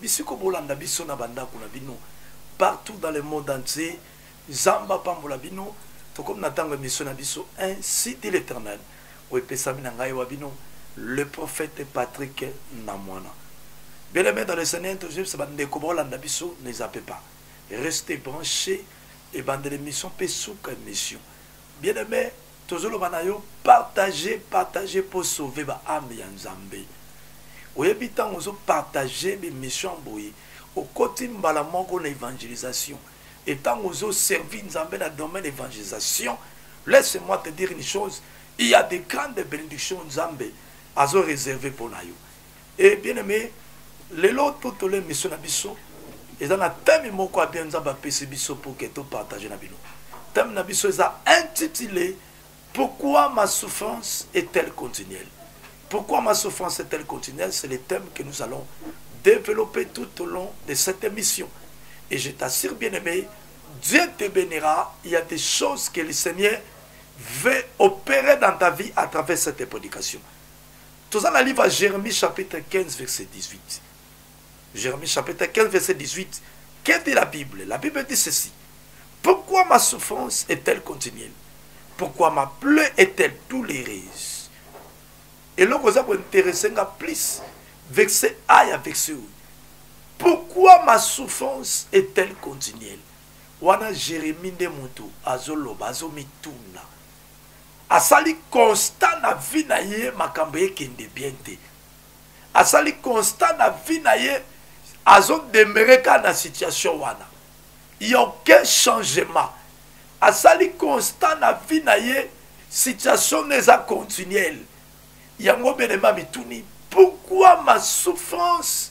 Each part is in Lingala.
Bisiko bolanda biso na bandaku na bino partout dans le monde entier nzambe apambola bino tokomi na tango emission na biso ainsi dit l'eternel oyo epesami na ngai wa bino le prophète Patrick na mwana bien aimé dans le Seigneur tojebisa bandeko bolanda biso ne zappe pas restez branché ebandela emission pe suka emission Bien aime tozoloba na yo partage partage po sauve ba ame ya nzambe oyebi ntango ozo partage bemission boye okoti mbala moko na evangelisation e ntango ozo servi nzambe na domaine evangelisation laisse moi te dire une chose il ya de grande benediction nzambe azo reserve mpo na yo Et bien aimé, lelo totole mission na biso eza na thème moko abia nzambe apesi biso pour que to partage na bino thème na biso eza intitulé pourquoi ma souffrance est-elle continuelle pourquoi ma souffrance est-elle continuelle c'est le thème que nous allons développer tout au long de cette émission et je t'assure bien aimé Dieu te bénira il y a des choses que le Seigneur veut opérer dans ta vie à travers cette prédication toza na livre ya jeremie chapitre 15 verset 18 jeremie chapitre 15 verset 18 que dit la bible la bible dit ceci pourquoi ma souffrance est-elle continuelle pourquoi ma plaie est-elle douloureuse eloko oza kointeresse nga plus verset a ya verset oyo pourquoi ma souffrance est-elle continuelle wana jeremie nde moto azoloba azomituna asali constat na vie na ye makambo ekende bien te asali constat na vie na ye azodemere kaka na situation wana ya aucun changement asali constat na vie na ye situation na eza continuelle yango benema mituni pourquoi ma souffrance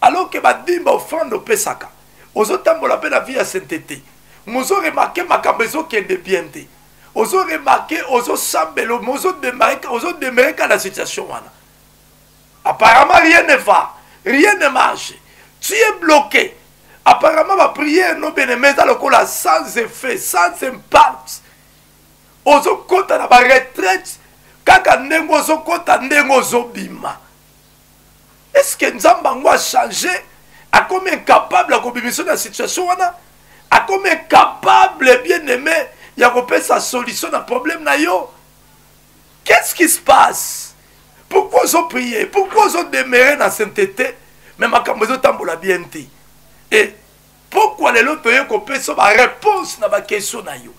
alors que badimba ofrande opesaka ozotambola mpe na vie ya sainteté mozo remarke makambo ezokende bien te ozo remarke ozosambela ozodemereka na situation wana apparemment rien ne va rien ne marche tu es bloqué apparemment baprière no bene mais eza lokola sans effet sans impact ozokɔta na baretraite kaka ndenge ozokɔta ndenge ozobima est ce que nzambe yango achange akomi incapable ya kobimisa na situation wana akomi incapable bien aimé ya kopesa solution na problème na yo qu'est ce qui se passe pourquoi ozo prier pourquoi ozo demeurer na sainteté mais makambo ezotambola bien te e eh, pokwa lelo toye kopesa bareponse na bakestion na yo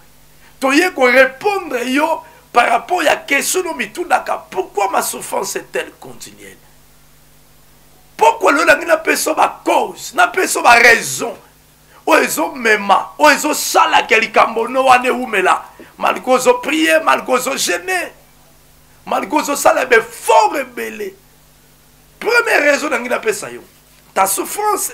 toye korepondre yo par rapport ya kestion no mitundaka pourquoi ma souffrance est elle continuelle pokwa lelo nangi napesa bacause napesa baraison oyo ezomema oyo ezosalaka likambo no wana ewumela malgre ozoprie malgre ozogene malgre ozosala befort ebele première raison nangi napesa yo ta souffrance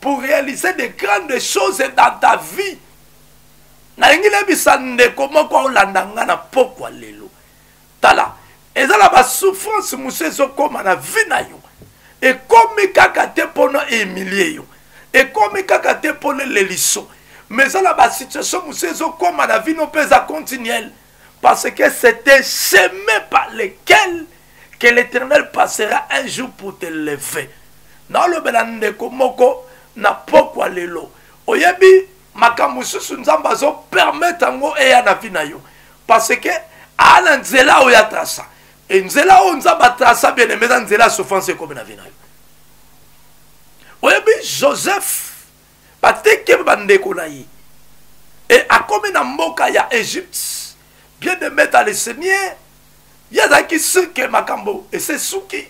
pour réaliser de grandes choses dans ta vie nalingi nayebisa ndeko moko aolanda ngai na pokwa lelo tala eza na basouffrance mosusu ezokóma na vie na yo ekomi kaka te mpo na emilie yo ekomi kaka te mpo na eleliso mais eza na basituation mosusu ezokóma na vie no mpe eza continuelle Parce que c'est un chemin par lequel que l'Éternel passera un jour pour te lever. nalobela ndeko moko na pokwa lelo oyebi makambo mosusu nzambe azopermete yango eya na vi na yo parce que aa na nzela oyo atrasa e nzela oyo nzambe atrasa bien aime eza nzela ya souffrance ekomi na vi na yo oyebi joseph batekemi bandeko na ye e akomi na mboka ya egypte bien de maître le seigneur ye azalaki sirke makambo esesuki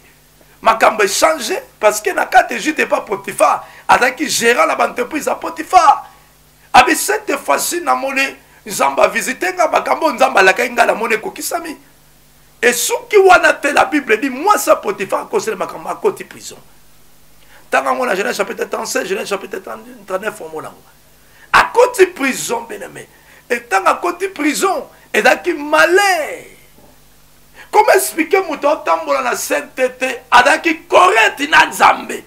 makambo echange parce que na kati egypte epa potifar azalaki gérant na baentreprise ya potifar abi cette fois-ci namoni nzambe avisite nga makambo oyo nzambe alakaki ngai namoni ekokisami esuki wana te la bible dit mwasi ya potifar akoseli makambo akoti prison ntanga yango na genèse chapitre 36 genèse chapitre 39 omo nango akoti prison beneme etanga akoti prison ezalaki malheur koma explike moto aotambola na saintete azalaki correct na nzambe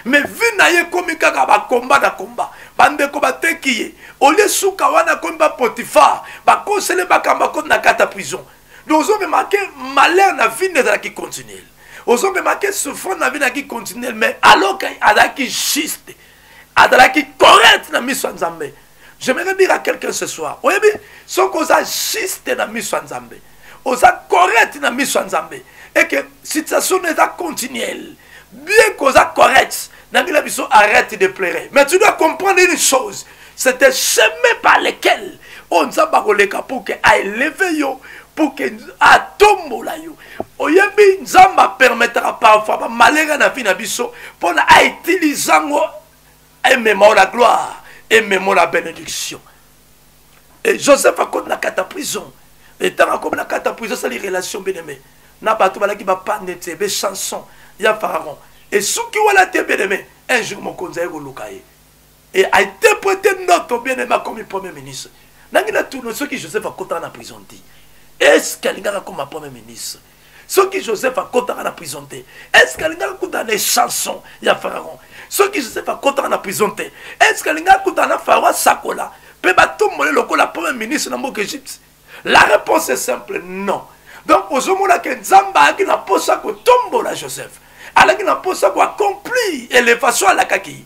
mais vie na ye ekomi kaka bakomba na komba bandeko bateki ye olie suka wana akomi bapotifar bakosele makambo akomi na kata prison donc ozomemake malheur na vie nde ezalaki continuel ozomemake souffrance na vie naki continuel mais alors azalaki juste azalaki correct na miso ya nzambe je me dire à quelqu'un ce soir oyebi soki oza juste na miso ya nzambe oza correct na miso ya nzambe eke situation no eza continuelle bien koza correct nangila biso arrête de pleurer mais tu dois comprendre une chose c'est un chemin par lequel oyo nzambe akoleka pour que aeleve yo pour que atombola yo oyebi nzambe apermetaka parfois bamalere na vie na biso mpona autilize yango emema yo na gloire emema yo na benediction e joseph akomi na kata prison etango akomi na kata prison asali relation beneme na bato balaki bapande te bechanson ya pharaon esuki wana te beneme un jour mokonzi aye koluka ye e ainterprete ndoto beneme akomi premier ministre nangi na tourne soki joseph akotaka na prison te eske alingaka akoma premier ministre soki joseph akotaka na prison te estce alingaki akutana na chanson ya pharaon soki joseph akotaka na prison te estce alingaki akutana na pharaon asakola mpe batombole lokola premier ministre na mboka egypte la réponse est simple non donc ozomona ke nzambe ayaki na mposa kotombola joseph alaki na mposa koaccomplir elevation alakaki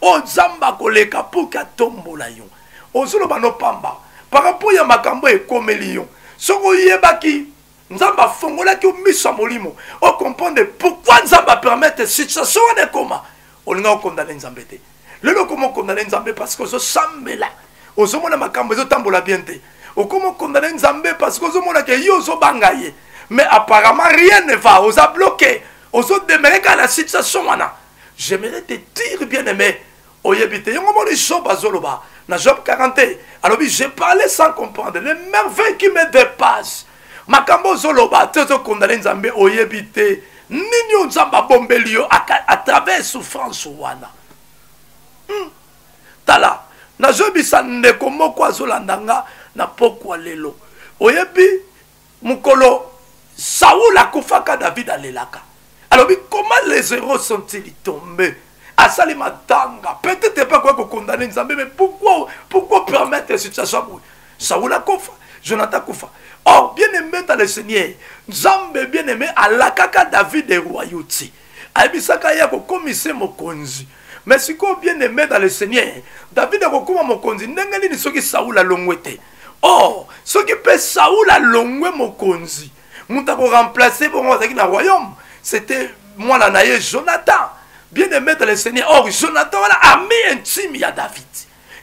oyo oh, nzambe akoleka mpo ke atombola yo ozoloba no pamba parapo ya makambo ekomeli yo soki oyebaki nzambe afongolaki yo miso ya molimo okomprendre pourkui nzambe apermettre situation wana ekoma olinga okondane nzambe te lelo okoma okondane nzambe parce que ozosambela ozomona makambo ezotambola bien te okoma okondane nzambe parce que ozomona ke ye ozobanga ye mais apparemment rien ne va oza bloqué ozodemereka na situation wana j'aimerais te dire bien aimé oyebi te yango moni job azoloba na job 40 te alobi je parlais sans comprendre le merveille qui me dépasse makambo ozoloba te ozokondane nzambe oyebi te nini oyo nzambe abombeli yo à travers souffrance wana hmm. tala nazoyebisa ndeko moko azolanda nga na pokwa lelo oyebi mokolo saul akufaka david alelaka alobi comment les héros sont-ils tombés asali matanga peut-être epa koya kokondane nzambe mais pourquoi pourquoi permettre situation boye saul akufa jonathan akufa or bien aimé dans le seigneur nzambe bien aimé alakaka david eroyauti ayebisaka ye akokomisa mokonzi mais sikoyo bien aimé dans le seigneur david akokoma mokonzi ndenge nini soki saul alongwe te or soki mpe saul alongwe mokonzi moto akoremplace bongo azalaki na royaume c'était mwana na ye jonathan bien aimé dans le seigneur or jonathan wana ami intime ya david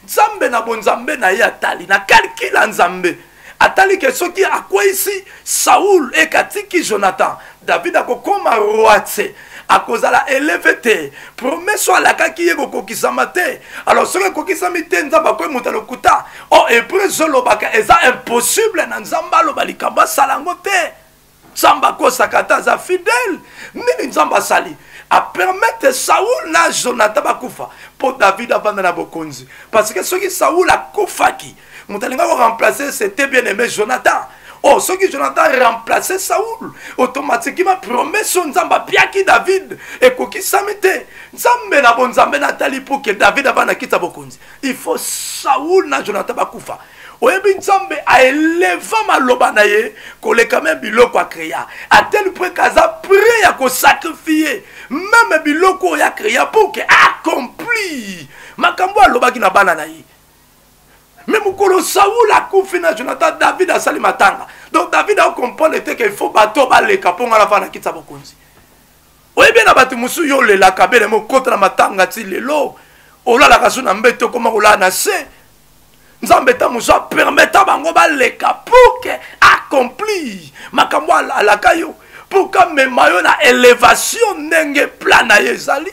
nzambe na bonzambe na ye atali na kalkile ya nzambe atali ke soki akweisi saul ekatiki jonathan david akokoma roi te akozala eleve te promese oyo alakaki ye kokokisama te alors soki ekokisami te nzambe akoki moto ya lokuta o oh, hebreu ezolobaka eza impossible na nzambe aloba likambo asala yango te nzambe akosaka ata aza fidele nini nzambe asali apermete saul na jonathan bakufa mpo david avanda na bokonzi parce que soki saul akufaki moto alinga ko remplacer c'était bien aimé jonathan oh soki jonathan remplacer saul automatiquement promesse oyo nzambe apiaki david ekokisami te nzambe na bonzambe natali mpo ke david aba na kiti ya bokonzi il faut saul na jonathan bakufa oyebi nzambe aeleva maloba na ye koleka me biloko akrea ateli mpo eke aza pre ya kosakrifie meme biloko oyo akrea mpo ke akomplir makambo alobaki na bana na ye me mokolo saul akufi na jonathan david asali matanga donc david akokomprendre te ke faut bato baleka mpo ngai nafana kiti ya bokonzi oyebi na bato mosusu yo olelaka bele mokota na matanga ti lelo olalaka so na mbete okoma kolala na se nzambe ntango mosusu apermeta bango baleka pour ke accomplir makambo alaka yo pour kamema yo na elevation ndenge plan na ye ezali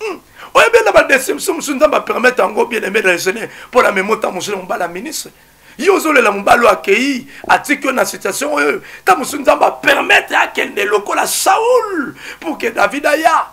Hmm. oyo bena badeception mosusu nzambe apermete yango bien aimé raisonne mpo na memo ntango mosusu na mobala ministre ye ozolela mobali oyo akei atiki yo na situation oyo ntango mosusu nzambe apermetre akende lokola saul pour ke david aya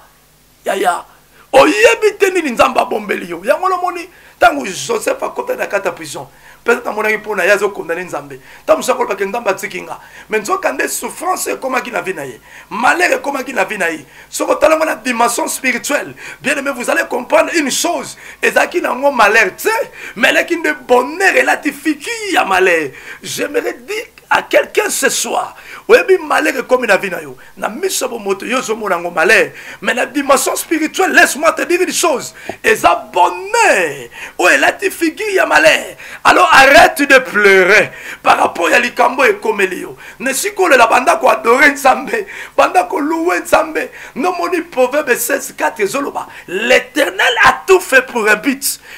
yaya oyebi te nini nzambe abombeli yo yango lomoni ntango joseph akotaki na kati ya prison peut-être namonaki mpo na ye azokondane nzambe ntango mosusu akolobake nzambe atiki nga mai nzoka nde souffrance ekomaki na vie na ye malheur ekomaki na vie na ye soki otalango na dimension spirituelle bien aimé vous allez comprendre une chose ezalaki na yango malheur te mais elaki nde bonheur elati fiki ya malheur j'aimerais dire à quelqu'un ce soir oyebi malheur ekomi na vie na yo na miso ya bomoto yo ozomona yango malheur mais na dimension spirituelle laisse moi te dire une chose eza bonheur oyo elati figure ya malheur alors arrête de pleurer par rapport ya likambo ekomeli yo nesikolela banda koadore nzambe banda koluwe nzambe nomoni proverbe 16 4 ezoloba l'éternel a tout fait pour un but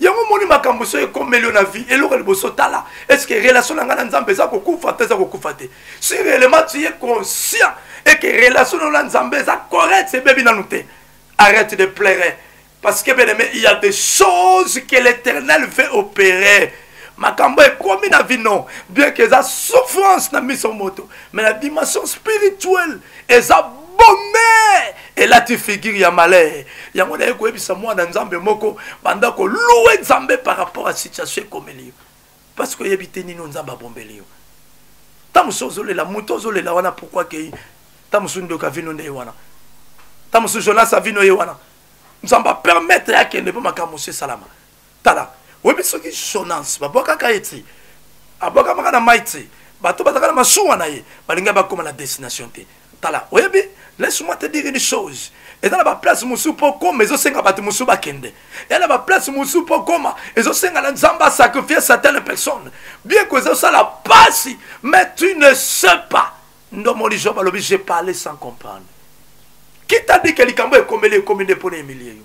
yango omoni makambo soki ekomeli yo na vie eloko liboso tala estce relation na ngai na nzambe eza kokufa to eza kokufa te si réellement tu es conscient et que relation na yo na nzambe eza correct ebebi nanu te arrête de pleurer parce que bien aimé il y a des choses que l'éternel veut opérer makambo ekomi na vino bien que eza souffrance na miso moto mais na dimension spirituelle eza bome elati figure ya malheur yango naye koyebisa mwana nzambe moko banda koluwe nzambe par rapport ya situation ekomeli yo parce que oyebi te nini nzambe abombeli yo ntango mosusu ozolela moto ozolela wana pourkui akei ntango mosusu ndoki avino nde ye wana ntango mosusu jonas avino ye wana nzambe apermettre akende mpo makambo mosusu esalama Tala, oyebi soki Jonas babwakaka ye te, abwakamaka na mai te, bato bazalaka na masuwa na ye balinga bakoma na destination te. Tala, oyebi, laisse-moi te dire une chose, eza na baplace mosusu mpo okoma ezosenga bato mosusu bakende ya na baplace mosusu mpo okoma ezosenga na nzambe asacrifie certaine personne bieko ezosala mpasi mais tu ne sais pas ndomoli job alobi je parle sans comprendre kita dike likambo ekomeli ekomi nde mpo na emilie yo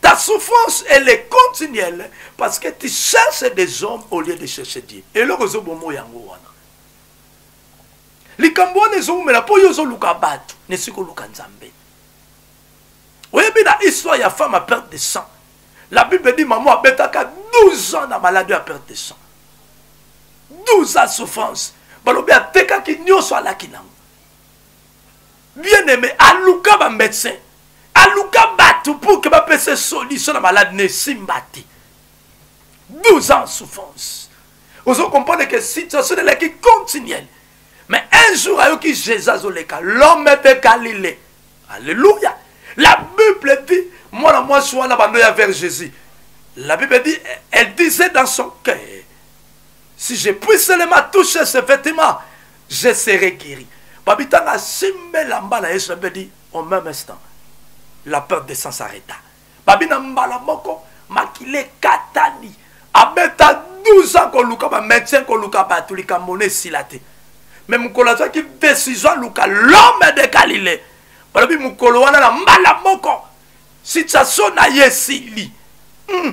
Ta souffrance, elle est continuelle parce que tu cherches des hommes au lieu de chercher Dieu. Et là, vous avez yango wana. likambo wana ezowumela mpo yo ozoluka bato na esika oluka nzambe oyebi na histoire ya femme ya perte de sang la bible dit mama abetaka 12 ans na maladi ya perte de sang 12 ans souffrance balobi atekaki nyonso alaki nango bien aime aluka ba médecin aluka bato pour que bapesa solution na malade na esimba te 12 ans souffrance ozo comprendre que situation elaki continuelle mais un jour ayoki jésus azoleka l'homme de galilée alléluia la bible dit mwana mwasi wana bando ya vers jésus la bible dit elle disait dans son cœur si je puis seulement toucher ce vêtement je serai guéri babitanga asimba elamba na yesu nabi adi au même instant la peur de sang s'arrêta babi na mbala moko makila ekatani abeta 12 ans koluka bamédecin koluka bato likambo na esila te me mokolo azwaki décision aluka l'homme de galilée balobi mokolo wana na mbala moko situation na ye esili mm.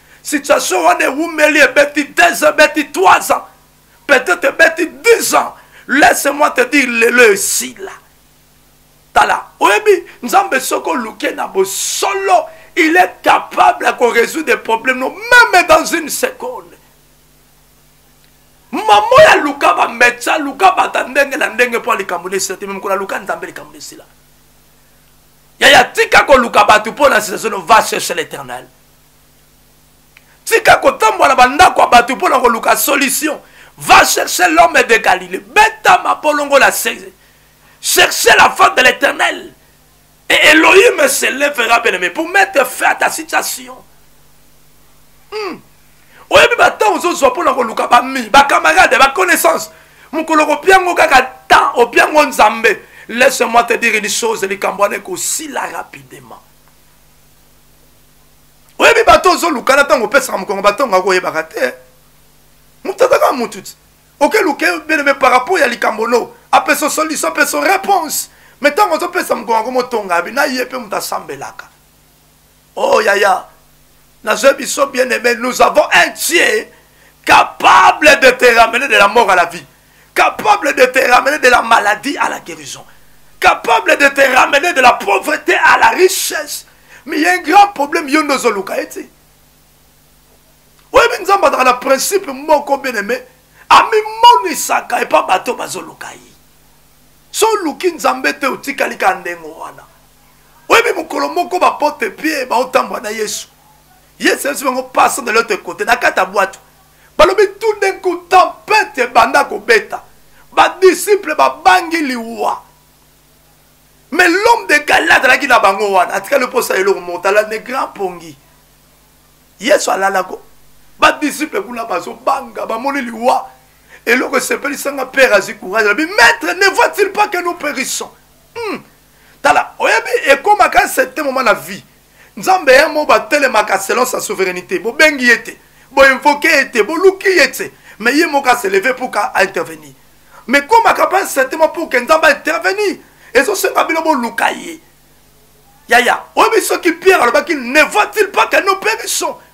situation wana ewumeli ebeti 2 ebeti 3 ans peut-être ebeti 10 ans laisse-moi te dire lelo esila tala oyebi nzambe soki oluke na bosolo il est capable ya korésoudre des problèmes no meme dans une seconde mama oyo aluka bametsa aluka bato ya ndenge na ndenge mpo ya likambo na esila te me mokolo aluka nzambe likambo na esila yaya tika koluka bato mpo na situation va cherche l'éternel tika kotambola bandako ya bato mpo na koluka solution va chercher l'homme de galilée beta mabolongo la seize chercher la femme de l'éternel et elohim se lèvera bien aimé pour mettre fin à ta situation hmm. oyebi batemp ozozwa mpo na koluka bami bacamarade baconnaissance mokolo kopiango kaka temps opiango nzambe laisse moi te dire une chose likambo wana ekosila rapidement oyebi bato ozoluka na ntango opesaka mokongo batongo akoyebaka te moto azaka motu ti okeluke beleme par rapport ya likambo no apeso solution apeso réponse me ntango ozopesa mokongo yango motonga abi na ye mpe moto asambelaka o oh, yaya nazwi biso bien aimé nous avons un tier capable de te ramener de la mort à la vie capable de te ramener de la maladie à la guérison, capable de te ramener de la pauvreté à la richesse. Mais il y a un grand problème, yo ndozo luka eti. Oyebi nzambe azalaka na principe moko bien aimé, amimonisaka epa bato bazoluka ye. So oluki nzambe te otikali ka ndenge wana. Oyebi mokolo moko bapote pie baotambwa na Yesu. Yesu ayebisi bango pasa de l'autre côté na kati ya bwato. balobi tout d'un coup tempete ebanda kobeta badisiple babangi liwa mais l'homme de galile azalaki na bango wana atikali mposa eloko motala ne grand pongi yesu alalako badisiple kuna bazobanga bamoni liwa eloko esepelisanga père azwi courage alobi maître ne voit-il pas que nous périssons hmm. tala oyebi ekomaka certain moment na vie nzambe ya mo batelemaka selon sa souveraineté bobengi ye te boinvoke ye te boluki ye te mais ye moko aseleve pour ka intervenir mais komaka mpe certainement pour ke nzambe intervenir ezosenga bino boluka ye yaya oyebi soki pierre alobaki ne voit-il pas que nous périssons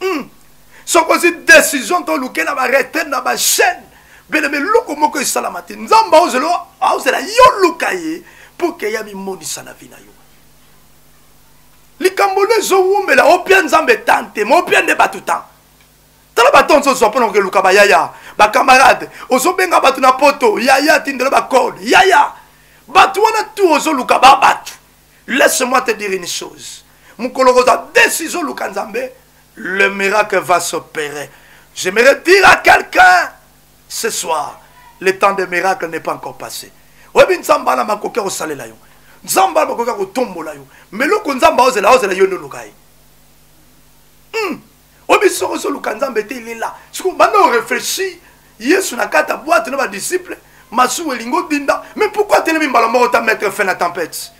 hmm. soki ozwi décision to olukela baretraite na bachaine belebe eloko moko esalama te nzambe aozela yo luka ye mpo ke ya mimonisa na vi na yo likambo nde ezowumela opia nzambe tan te ma opia nde bato tan tala bato nso ozwa mpona kokeluka bayaya bacamarade ozobenga bato na poto yaya tindelo bacode yaya bato wana tu ozoluka ba bato laisse moi te dire une chose mokolo kozwa décision oluka nzambe le miracle va s'opérer j'aimerais dire à quelqu'un ce soir le temps de miracle n'est pas encore passé oyebi nzambe ana makoki ya kosalela yo nzambe ana makoki ya kotombola yo meloko nzambe aozela aozela yo nde oluka ye hmm. oyebi soko ozoluka nzambe te lela sikoyo banda oreflechir yesu na kati ya bwate na badisiple masumu elingi odinda mais pourkui atelemi mbala moko ta maître fin na tempête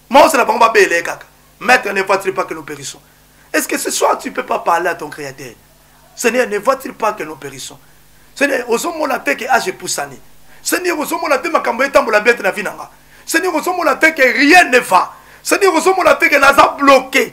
maosala bango babele kaka maître ne voit-il pas que nous périssons est ce que ce soir tu peux pas parler à ton créateur seigneur ne voit-il pas que nous périssons seigneur ozomona te ke age epusani seigneur ozomona te makambo etambola bien te na vi na nga seigneur ozomona te ke rien ne va seigneur ozomona te ke naza bloqué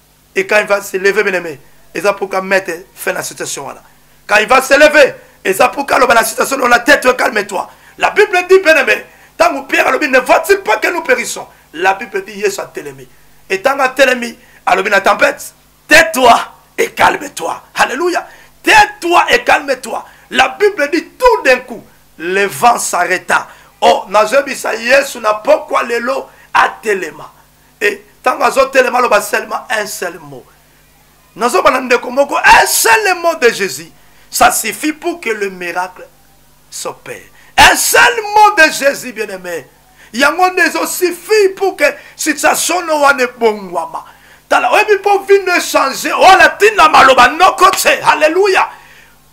et quand il va se lever bien aimé eza pour ka mettre fin na situation wana quand il va se lever eza pour ka loba na situation dans la tête calme toi la bible dit bien aimé tango pierre alobi ne va-t-il pas que nous périssons la bible dit yesu atelemi et tango atelemi alobi na tempête tais-toi et calme-toi alléluia tais-toi et calme-toi la bible dit tout d'un coup le vent s'arrêta oh nazwebisa yesu na pokwa lelo atelema et ntango azotelema aloba seulement un seul mot nazoba na ndeko moko un seul mot de jésus ça suffit pour que le miracle s'opère un seul mot de jésus bien aimé yango nde ezosuffi pour que situation no wana ebongwama tala oyebi mpo vino echange oyo oh, latina maloba noko te halleluya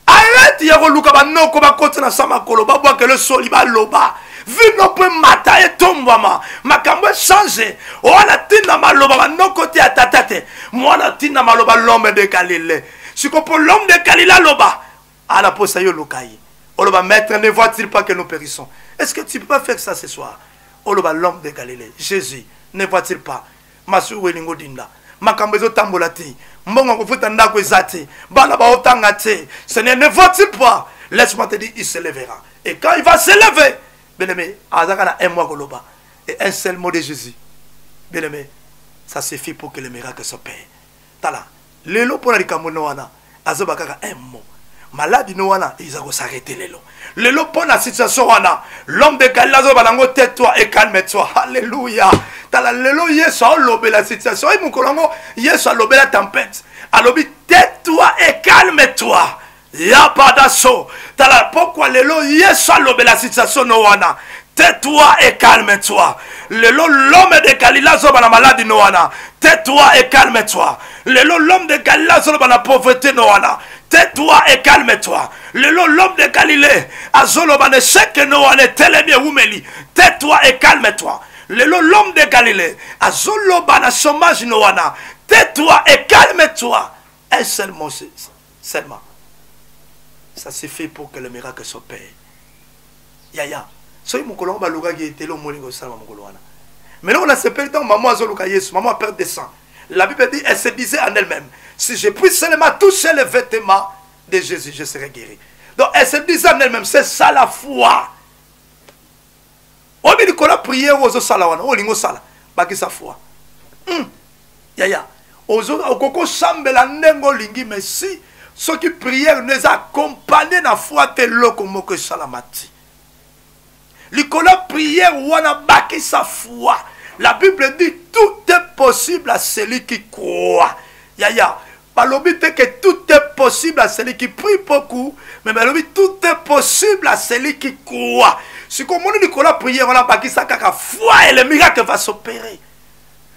Arrête ya koluka banoko bakoti na sa makolo babwakele soli baloba vino mpo emata etombwama makambo echange wana ntina maloba banoko te ya tata te mwana ntina maloba lome de galile siko mpo lome de galile aloba ala mposa yo oluka ye oloba maître ne voit-il pas que nous périssons est ce que tu peux pas faire ça ce soir oloba lome de galile jésus ne voit-il pas masuku elingi odinda makambo ezotambola te mbongo ya kofuta ndako eza te bana baotanga te seigneur ne vois-tu pas laisse-moi te dire il se levera et quand il va se lever bien aimé azaka na un mois koloba et un seul mot de jésus bien aimé ça suffit pour que le miracle s'opère tala lelo mpo na likambo no wana azoba kaka un mot maladi no wana eza kosarete lelo lelo mpo na situation wana l'homme de galile azoba nango te toi et calme toi halleluya tala lelo yesu aolobela situation oyi mokolo yango yesu alobela tempete alobi te toi et calme toi ya badaso tala pokwa lelo yesu alobela situation no wana tais-toi et calme-toi lelo l'homme de galile azoba na maladi no wana tais-toi et calme-toi lelo l'homme de galile azoloba na pauvreté no wana tais-toi et calme-toi lelo l'homme de galilée azoloba na echec no wana etelemi ewumeli tais-toi et calme-toi lelo l'homme de galilée azoloba na chômage no wana tais-toi et calme-toi un seul mot c'est ça Seulement. Ça suffit pour que le miracle s'opère. Yaya. soki mokolo yango balukaki ye te lo omoni kosalama mokolo wana mais loko nasepeli ntango mama azoluka yesu mama a perte de sang la bible dit elle se disait en elle-même si je puis seulement toucher les vêtements de jésus je serai guéri donc elle se disait en elle-même c'est ça la foi oyebi likolo ya priere oyo ozosala wana oyo olingi osala bakisa foi hmm. yaya okoki osambela ndenge olingi mais si soki priere nde eza akompagne na foi te eloko moko esalama ti likolo ya priere wana bakisa foi la bible dit tout est possible à celui qui croit yaya balobi te que tout est possible à celui qui prie beaucoup mais balobi tout est possible à celui qui croit sikoyo omoni likolo ya prière wana bakisa kaka foi et le miracle va s'opérer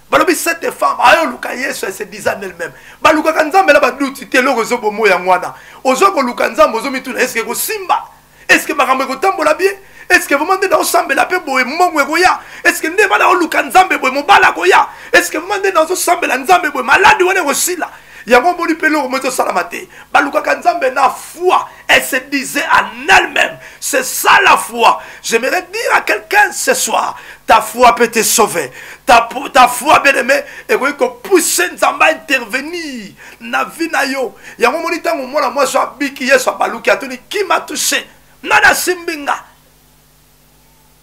balobi cette femme ayo oluka yesu ese disa en elle-même balukaka nzambe na baduti te eloko ezobomo yango wana ozo koluka nzambe ozomituna eske ekosimba est ce que makambo ekotambola bien est ce que vraiment nde naosambela mpe boye mbongo ekoya est ce que nde bana oluka nzambe boye mobali akoya est ce que vraiment nde nazosambela nzambe boye maladi wana ekosila yango omoni mpe eloko moko ezosalama te balukaka nzambe na foi elle se disait en elle-même c'est ça la foi j'aimerais dire à quelqu'un ce soir ta foi peut te sauver ta, ta foi bien aimé ekoki kopousse nzambe a intervenir na vie na yo yango omoni ntango mwana mwasi abiki yesu abaluki atuni kima touche nani asimbi nga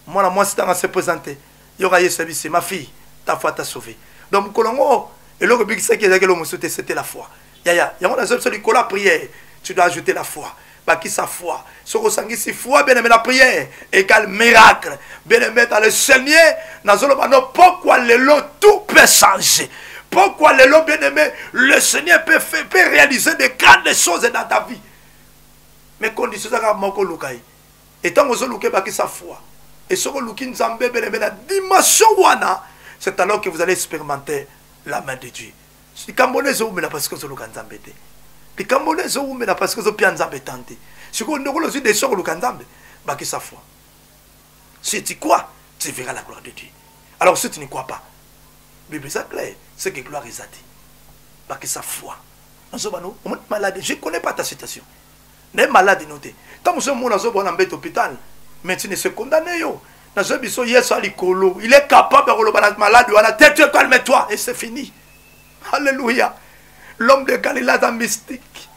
mwana mwasi ntango ase présente yoka yesu abisi ma fille ta foi ta sauve donc mokolo yango eloko ebikisaki ezalaki eloko mosusu te c'était la foi yaya yango nazo biso likolo ya prière tu dois ajouter la foi bakisa foi soki osangisi foi bien aime la prière égale miracle bien aime dans le seigneur nazoloba no pokwa lelo tout peut changer pokwa lelo bien aime le seigneur peut, fait, peut réaliser de grandes choses dans ta vie mais condition ezaka moko oluka ye etango ozoluka ebakisa foi et soki oluki nzambe bien aime na dimension wana c'est alors que vous allez expérimenter la main de dieu likambo wana ezowumela parce que ozoluka nzambe te likambo wana ezowumela parce que ozopia nzambe tan te sikoyo ndeko ozwi desio koluka nzambe bakisa foi si tu crois tu verras la gloire de dieu alors si tu ne crois pas bible eza clair ce que gloire eza te bakisa foi nazobano omoni malade je connais pas ta situation naye malade no te ntango mosusu omona zoba wana mbete hôpital médecine ese condamne yo nazwa biso yesu ya likolo il est capable ya koloba na malade wana te te calme toi et c'est fini alléluia l'homme de galilée aza mystique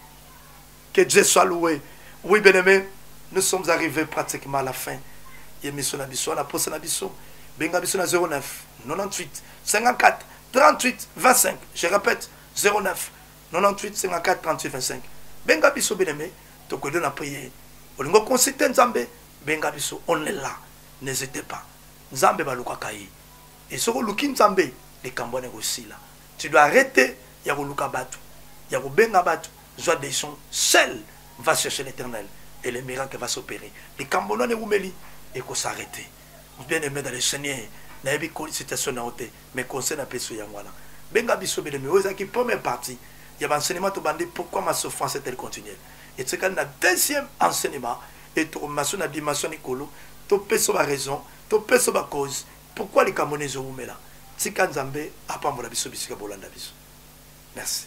que dieu soit loué oui bien aimé nous sommes arrivés pratiquement à la fin ye miso na biso wana posa na biso benga biso na 09 98 54 38 25 je répète 09 98 54 38 25 benga biso beneme tokodo na priere olingo consulte nzambe benga biso on est là n'hésitez pas nzambe balukaka ye e soki oluki nzambe likambo wana ekosila tu dois arrêter ya koluka bato ya kobenga bato zwa decision seul va chercher l'éternel et le miracle va s'opérer likambo wana ewumeli ekosarrete bien aimé dans le seigneur nayebi situation na yo te Mais conseil na pesi yo yango wana benga biso bele mais oyo ezalaki première partie ya ba enseignement tobandi pourquoi ma souffrance est-elle continuelle etikali na deuxième enseignement et tokomema so na dimension likolo topesa ba raison topesa ba cause pourquoi likambo na ezowumela tika nzambe apambola biso bisika bolanda biso merci